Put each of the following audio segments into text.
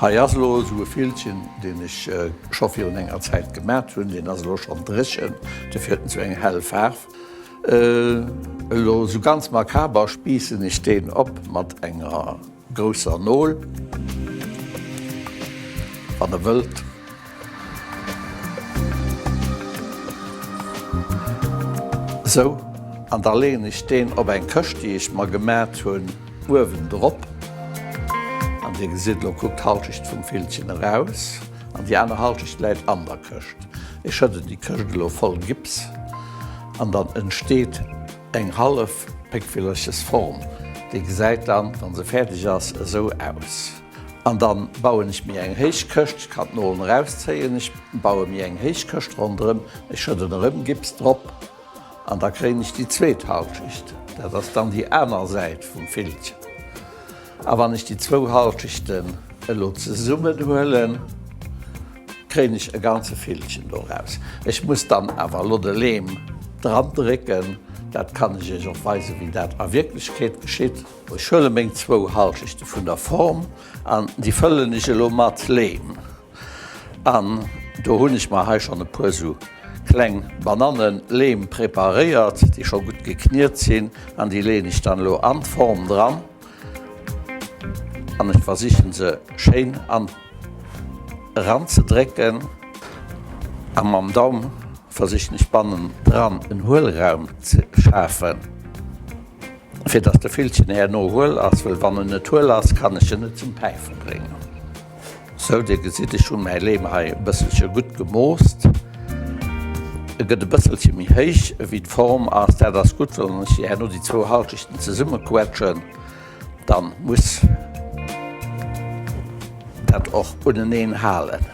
Hei ass elo esou e Fillchen, deen ech scho virun enger Zäit gemat hunn. Deen ass elo schonn dréchen, dofir huet en esou eng hell Faarf. Elo esou ganz makaber spiissen ech deen op mat enger grousser Nol, wann Der wëllt. Sou, an da leeën ech deen op eng Këscht, déi ech mer gemaacht hunn, uewendrop. An Dir gesitt, elo kuckt d'Halschecht vum Villchen eraus an déi aner Halschecht läit an der Këscht. Ech schëdden déi Këscht elo voll Gips an dann entsteet eng hallef Péckvillerchesform. Déi gesäit dann, wa se fäerdeg ass, esou aus. An dann bauen ech mir eng héich Këscht, ech kann d'Noolen erauszéien, ech bauen mir eng héich Këscht ronderëm, ech schëdden erëm Gips drop an da kréien ech déi zweet Halschicht, dat ass dann déi aner Säit vum Villchen. A wann ech déi zwou Halschichten elo zesummen huelen, kréien ech e ganze Villchen doraus. Ech muss dann awer elo de Leem dran drécken, dat kann ech iech och weisen, wéi dat a Wierklechkeet geschitt. Ech huele meng zwou Halschechte vun der Form an déi fëllen ech elo mat Leem an. Do hunn ech mer hei schonn e puer esou kleng Bananneleem preparéiert, déi scho gutt gekniet sinn an déi leeën ech dann elo an d'Form dran an ech versichen se schéin an eranzedrécken a mam Daum versichen ech bannendran en Huelraum ze schafen. Fir dass de Villchen herno huel ass, well wann en net huel ass, kann ech en net zum päife bréngen. Sou, dir gesitt, ech hunn mäi Leem hei e bësselche gutt gemoost. E gëtt e bësselche méi héich ewéi d'Form ass. Dat ass gutt, well wann ech dir herno déi zwou Halschechten zesummequetschen, da muss dat och uneneen halen.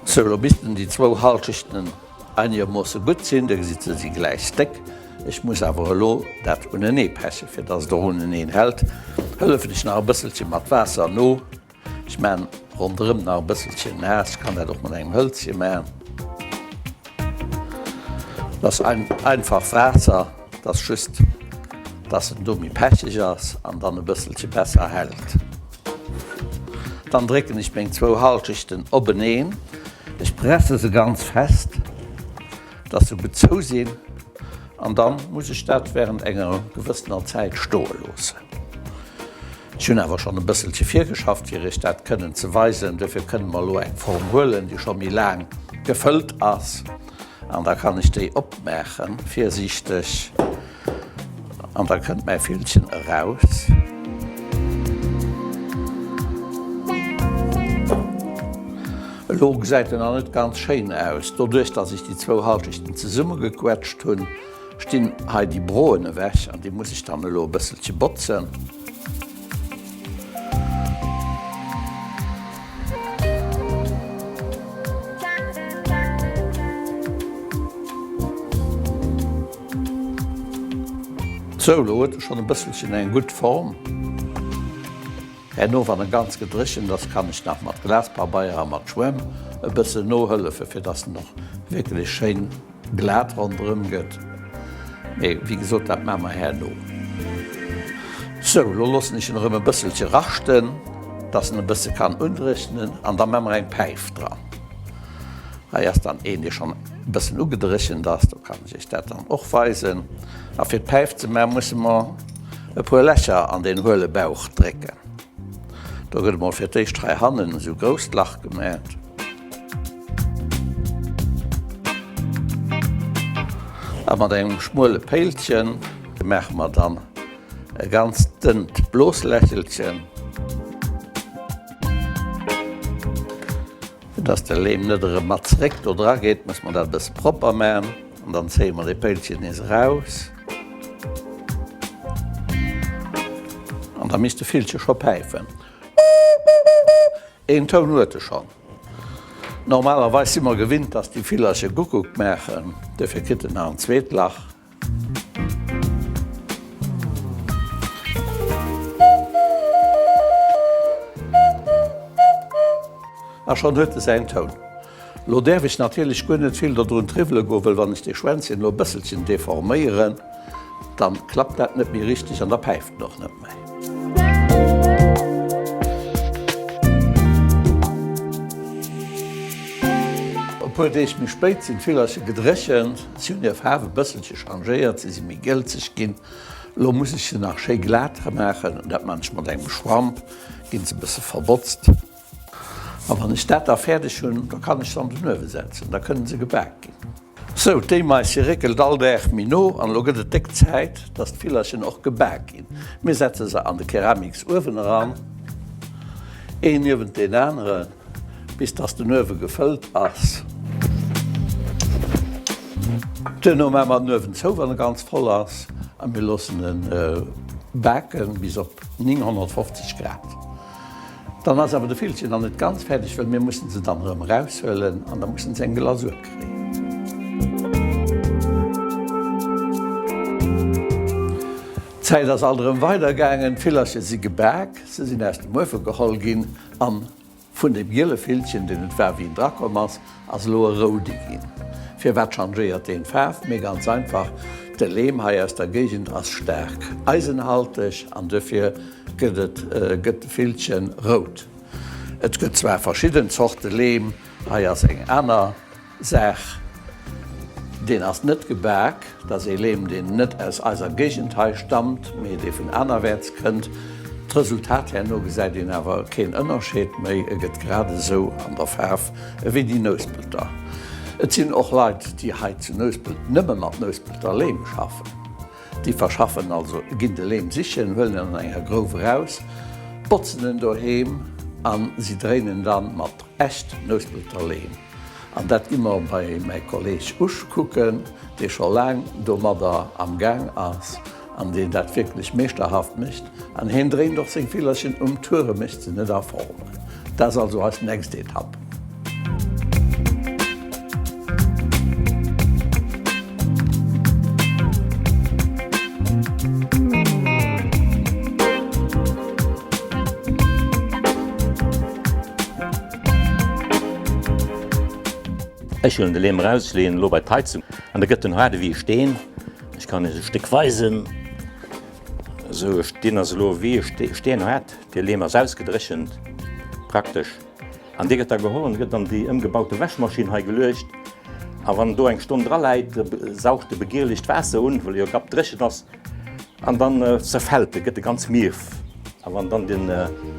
Sou, elo missten déi zwou Halschechten einiegermoosse gutt sinn. Dir gesitt, se si gläich déck. Ech muss awer elo dat unenee peche fir datt et och uneneen hält. Hëllefen ech nach e bësselche mat Waasser no. Ech maachen ronderëm nach e bësselche naass. Ech kann dat och mat engem Hëlzche maachen. Dat ass einfach Waasser, dat ass just, datt en do méi pecheg ass an dann e bësselche besser hält. Dann drécken ech meng zwou Hallschechten openeen. Ech presse se ganz fest, dass se gutt zou sinn an dann muss ech dat während enger gewëssener Zäit stoe loossen. Ech hunn awer schonn e bësselche virgeschafft fir iech dat kënnen ze weisen. Dofir kënne mer elo eng Form huelen, déi scho méi laang gefëllt ass an da kann ech déi opmaachen. Virsiichteg! An da kënnt mäi Villchen eraus. Elo gesäit en nach net ganz schéin aus. Doduerch, dass ech déi zwou Halschechten zesummegequetscht hunn, stinn hei déi Broen ewech an déi muss ech dann elo e bësselche botzen. Sou, lo huet e schonn e bësselchen eng gutt Form. Herno, wann e ganz gedréchent ass, kann ech nach mat Glaspabeier a mat Schwämm e bëssen nohëllefen, fir dass en och wierklech schéin glat ronderëm gëtt. Mee wéi gesot, dat maache mer herno. Sou, lo loossen ech en erëm e bësselche raschten, dass en e bësse kann undréchnen an da maache mer eng Päif dran. Hei ass dann een, dee schonn E bëssen ugedréchent ass, do kann ech iech dat dann och weisen. A fir päif ze man, musse mer e puer Lächer an deen huele Bauch drécken. Do gëtt emol fir d'éischt hei hannen esou grousst Lach gemät. A mat engem schmuele Péilchen maache mer dann e ganz dënnt Bloslächelchen. Fir dass de Leem net erëm mat zeréck do dra geet, musse mer dat e bësse propper maachen. An dann zéie mer dee Péilchen nees eraus. An da misst de Villche scho päifen. Een Toun huet e schonn. Normalerweis si mer gewinnt, dass déi Villercher Guckuck maachen. Dofir kritt en nach en zweet Lach. A schonn huet e säin Toun. Lo däerf ech natierlech guer net vill dodrun triwwele goen, wëll wann ech dee Schwänzchen lo e bësselchen deforméieren, dann klappt dat net méi richteg an da päift en och net méi. E puer Deeg méi spéit sinn d'Villerche gedréchent. Si hunn hir Faarf e bësselche changéiert, si si méi gëlzeg ginn. Elo muss ech se nach schéi glat dra maachen, dat man ech mat engem Schwamp, ginn se e bësse verbotzt. A wann ech dat da fäerdeg hunn, da kann ech se an den Uewe setzen, da kënne se gebak ginn. Sou, d'Éimais si réckelt all Dag méi no an elo gëtt et déck Zäit, dass d'Villerchen och gebak ginn. Mir setze se an de Keramiksuewen eran, een niewent deen aneren. Bis dass den Uewe gefëllt ass. Duerno maache mer den Uewen zou, wann e ganz voll ass, a mir loossen e baken bis op 950 Grad. Dann ass awer de Villchen nach net ganz fäerdeg, well mir mussen se dann erëm eraushuelen an da mussen se eng Glasur kréien. D'Zäit ass alt erëm weidergaangen, d'Villerche si gebak, se sinn aus dem Uewe geholl ginn An vun deem giele Villchen, deen et war, wéi en drakomm ass, ass elo e roude ginn. Firwat changéiert deen d'Faarf? Mee ganz einfach, de Leem hei aus der Géigend ass staark eisenhalteg an dofir gëtt et, gëtt de Villchen rout. Et gëtt zwar verschidden Zorte Leem, hei ass eng aner. Saach. Deen ass net gebak, dass ee Leem, deen net aus eiser Géigend hei stammt, mee dee vun anerwäerts kënnt. D'Resultat herno gesäit een awer keen Ënnerscheed méi, e gëtt grad esou an der Faarf ewéi déi Nouspelter. Et sinn och Leit, déi hei zu Nouspelt nëmme mat Nouspelter Leem schaffen. Déi verschaffen also, ginn de Leem sichen, huelen en an enger Grouf eraus, botzen en doheem a si dréinen dann mat echt Nouspelter Leem. An dat gi mer bei mäi Kolleg Usch kucken, dee scho laang domadder am Gaang ass an deen dat wierklech meeschterhaft mécht. An hien dréint och seng Villerchen um Tuer e mécht se net a Form. Dat ass also eis nächst Etapp. Ech huelen de Leem eraus, leeën en elo bei d'Heizung an da gëtt en haart ewéi e Steen. Ech kann iech e Stéck weisen. Esou, deen ass elo ewéi e Steen, steenhaart. De Leem ass ausgedréchent praktesch an dee gëtt da geholl an gëtt an déi ëmgebaute Wäschmaschinn hei geluecht. A wann en do eng Stonn draläit, saugt e begierlecht Waasser un, well e jo gapdréchent ass. An dann zerfällt e, gëtt e ganz mierf. A wann dann den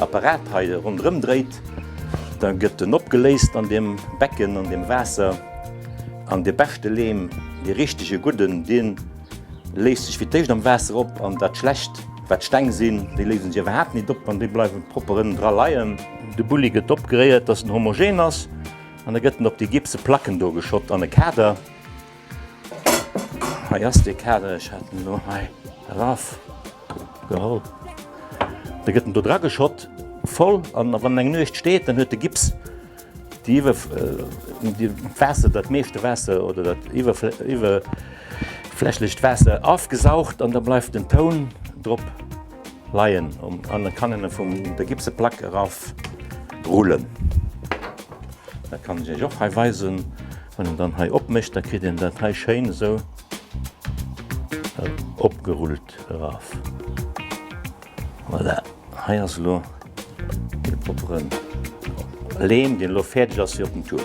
Apparat hei ronderëm dréit, da gëtt en opgeléist an deem Becken, an deem Waasser. An dee beschte Lehm, dee richtege gudden, dee léist sech fir d'éischt am Waasser op. An dat schlecht, wat Steng sinn, déi léisen sech iwwerhaapt nit op an déi bleiwe propper ënnen dra leien. De Bulli gëtt opgeréiert, dass en homogen ass, an da gëtt en op déi gipse Placken do geschott an e Kader. Hei ass dee Kader, ech hat en elo hei eraf geholl, da gëtt en do dra geschott voll an wann en eng Nuecht steet, dann huet de Gips déi iwwer Waasser, dat meeschte Waasser oder dat iwwerflächlecht Waasser afgesaugt an da bleift den Toun drop leien an da kann en e vum der Gipseplack eraf rullen. Dat kann ech Iech och hei weisen. Wann een dann hei opmécht, da kritt een dat hei schéin esou opgerullt eraf. Voilà, hei ass elo de proppere Leem, deen elo fäerdeg ass fir op den Tour.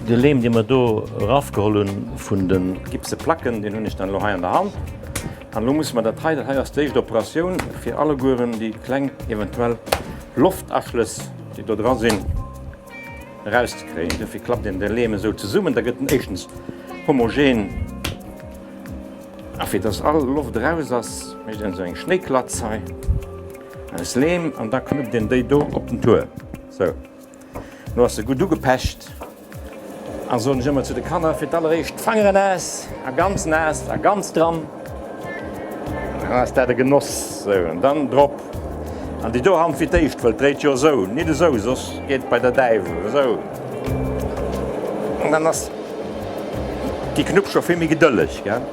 De Leem, dee mer do erafgeholl hunn vun de gipse Placken, deen hunn ech dann elo hei an der Hand. An elo musse mer dat hei, dat hei ass d'éischt Operatioun, fir allegueren déi kleng eventuell Loftaschlëss, déi do dra sinn, erauszekréien. Duerfir klappt een de Leem esou zesummen, da gëtt en éischtens homogen a fir dass all Loft eraus ass, mécht een esou eng Schnéiklatz hei aus Leem an da knuppt een déi do op den Tour. Sou, elo ass se gutt ugepecht a soen ech ëmmer zu de Kanner, fir d'alleréischt d'Fangeren naass a ganz naass a ganz dran. Ah ass dat e Genoss! Sou an dann drop an déi do Hand fir d'éischt, wëll d'dréit jo esou, nit esou, soss geet et bei der Däiwel esou an dann ass déi Knupp scho vill méi gedëlleg, gell?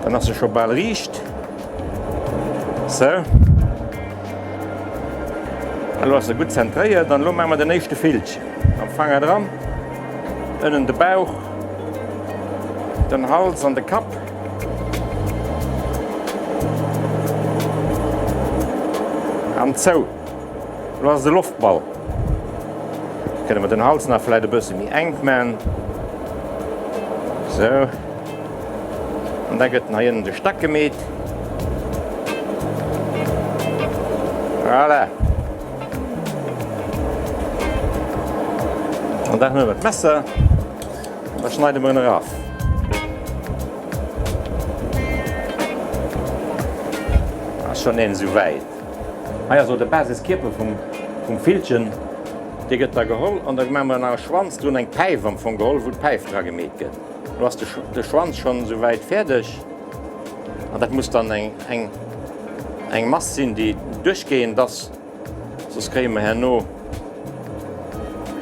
Dann ass se scho bal riicht. Sou, an elo ass se gutt zentréiert an elo maache mer den éischte Fillchen am Fanger dran, ënnen de Bauch, den Hals an de Kapp. An zou. Lo ass et e Loftball. Kënne mer den Hals nach vläit e bësse méi enk man. Sou. An da gëtt den hei ënnen de Stack gemeet. Voilà. An da huele mer d'Messer. Da schneide mer en eraf. Ass schonn een esou wäit. Hei ass och de Basiskierper vum Villchen. Dee gëtt da geholl an da maache mer nach e Schwanz drun, eng Päif am Fong geholl, wou d'Päif dra gemeet gëtt. Elo ass de Schwanz schonn esou wäit fäerdeg. An dat muss dann eng Mass sinn, déi duerchgehend ass. Soss kréie mer herno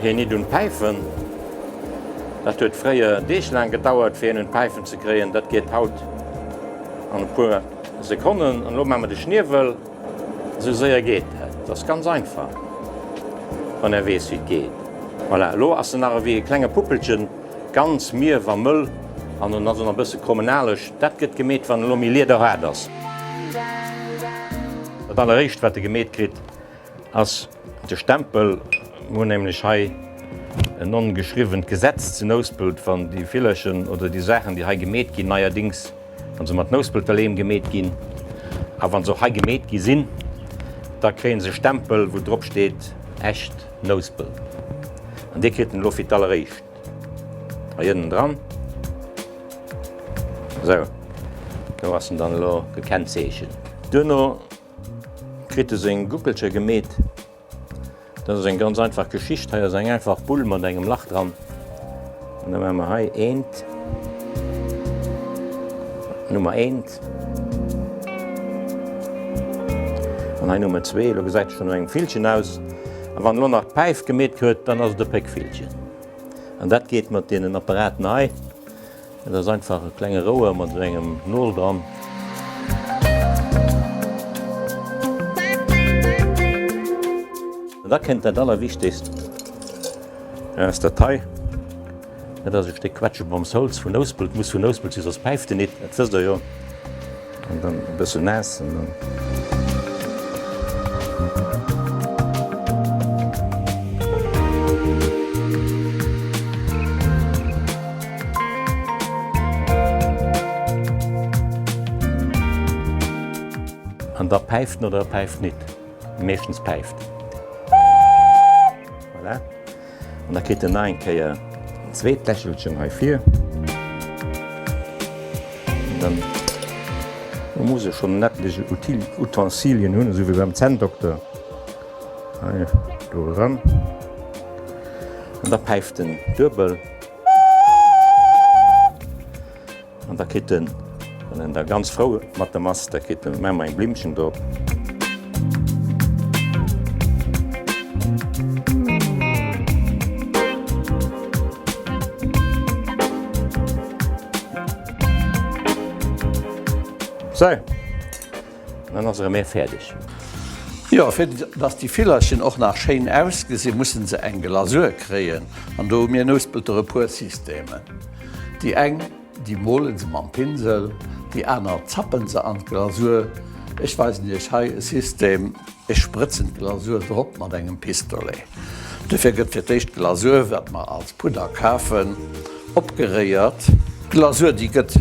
hien nit un d'Päifen. Dat huet fréier Deeg laang gedauert, fir hien un d'Päifen ze kréien. Dat geet haut an e puer Sekonnen. An elo maache mer de Schniewel. Esou séier geet dat. Dat ass ganz einfach, wann Der weess, wéi et geet. Voilà, elo ass en nach ewéi e klenge Puppelchen, ganz mierf a mëll. An en ass och nach e bësse krommenaleg. Dat gëtt gemeet, wann en elo méi liederhaart ass. Dat alleréischt wat e gemeet kritt ass de Stempel. Mir hunn nämlech hei en ongeschriwwent Gesetz zu Nouspelt, wann déi Villerchen oder déi Saachen déi hei gemeet ginn, neierdings wann se mat Nouspelter Leem gemeet ginn a wann se och hei gemeet gi sinn, da kréie se e Stempel wou drop steet Echt Nouspelt an dee kritt en elo fir d'alleréischt. Hei ënnen dran. Esou, do ass en dann elo gekennzeechent. Duerno kritt e seng Guckelcher gemeet. Dat ass eng ganz einfach Geschicht. Hei ass eng einfach Bull mat engem Lach dran. An da maache mer hei eent, Nummer eent. Respekt. An hei Nummer zwee, elo gesäit et schonn no engem Villchen aus. A wann elo nach d'Päif gemeet gëtt, dann ass et e Péckvillchen. An dat geet mat deenen Apparaten hei, dat ass einfach e klenge Rouer mat esou engem Nol dran. An da kënnt dat Allerwichtegst aus der Taille. Et ass e Stéck Quetscheboms Holz vun Nouspelt, muss vun Nouspelt si soss päift en nit, dat wësst der jo. An dann e bëssen naass an dann. An da päift en oder e päift nit, meeschtens päift. Voilà. An da kritt en nach eng Kéier en zweet Lächelchen hei vir. Dann muss e schonn en ettlech Utensilien hunn, esou wéi beim Zänndokter. Hei do eran. An da päift en duebel. An da kritt en, wann en da ganz frou mat em ass, da kritt en ëmmer eng Blimmchen drop. Sou. Dann ass erëm ee fäerdeg. Jo, fir dass déi Villerchen och nach schéin ausgesinn, mussen se eng Glasur kréien. An do hu mir Nouspelter e puer Systemen. Déi eng, déi molen se mam Pinsel, déi aner zappen se an d'Glasur. Ech weisen iech hei e System, ech sprëtzen d'Glasur drop mat engem Pistolet. Dofir gëtt fir d'éischt d'Glasur, wat mer als Pudder kafen, opgeréiert. D'Glasur, déi gëtt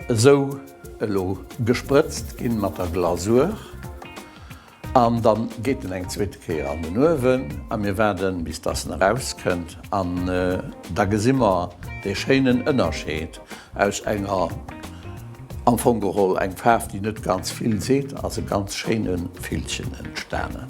Esou elo gesprëtzt ginn mat der Glasur an dann geet en eng zweete Kéier an den Uewen a mir waarden bis dass en eraus kënnt an da gesi mer dee schéinen Ënnerscheed aus enger am Fong geholl eng Faarf déi net ganz vill seet, ass e ganz schéinen Villchen entstanen.